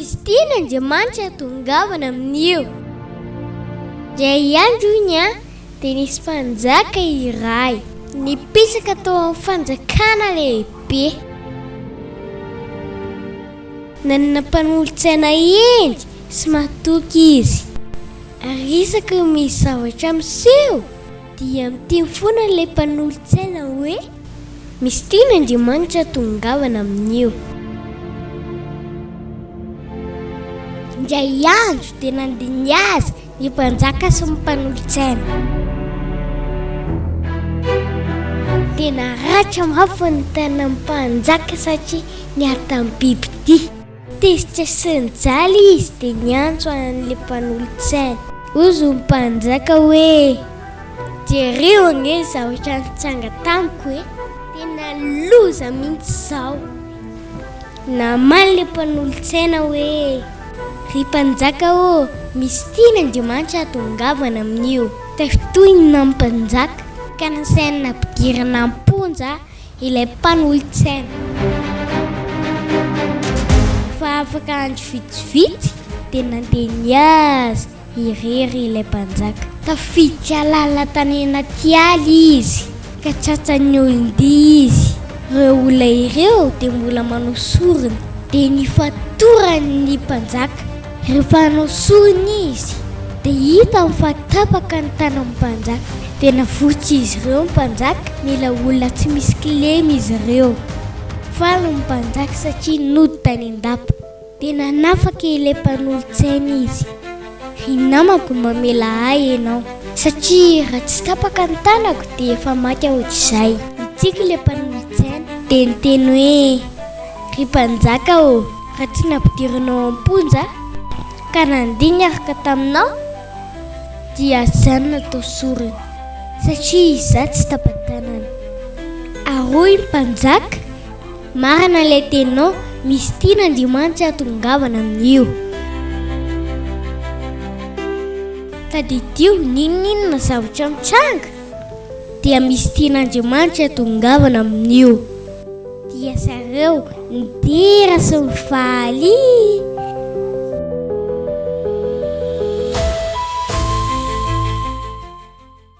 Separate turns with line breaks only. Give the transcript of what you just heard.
Misy tiany Andriamanitra hitongavana amin'io. Indray andro hono an, dia nisy mpanjaka iray nipetraka tao amin'ny fanjakana lehibe. Nanana mpanolotsaina hendry sy matoky izy, ary isaky ny misy zavatra miseho, Dia miteny foana ilay mpanolotsaina hoe. Misy tiany Andriamanitra tongavana amin'io. Indray andro dia nandiniha azy ny mpanjaka sy ny mpanolotsaina. Dia naratra mafy ny tanan'ny mpanjaka satria niatan'ny bibidia. Tezitra sy nijaly izy dia niantso an'ilay mpanolotsaina. Hozy ny mpanjaka hoe, Jereo ange ny zavatra nitranga tamiko e! Tena loza mihitsy izao! Namaly ilay mpanolotsaina hoe, Ry mpanjaka ô, misy tiany Andriamanitra hahatongavana amin'io. Tafitohina ny mpanjaka ka nasainy nampidirina am-ponja Ilay mpanolotsaina. Fa afaka andro vitsivitsy dia nandeha nihaza irery ilay mpanjaka. Tafiditra lalina tany anaty ala izy ka tratran'ny olon-dia izy. Ireo olona ireo dia mbola manao sorona dia nifatoran'ny mpanjaka. Rehefa hanao sorona izy, dia hitany fa tapaka ny tanan'ny mpanjaka. Dia navotsotra izy ireo ny mpanjaka, mila olona tsy misy kilema izy ireo. Faly ny mpanjaka satria nody tany an-dapa. Dia nanafaka ilay mpanolo-tsaina izy, Ry namako, mamela ahy ianao, satria raha tsy tapaka ny tanako, dia efa maty aho hatrizay. Nitsiky ilay mpanolo-tsaina, dia niteny hoe, Ry mpanjaka ô! Raha tsy nampidirinao am-ponja ka nandeha niaraka taminao dia zany natao sorona satria izaho tsy tapa-tanana. Ary hoy ny mpanjaka, Marina ilay teninao, misy tiana Andriamanitra hatongavana amin'io. Tadidio n'inon'inona zavatra mitranga. dia misy tian'Andriamanitra hitongavana amin'io. Dia zareo nidera sy nifaly.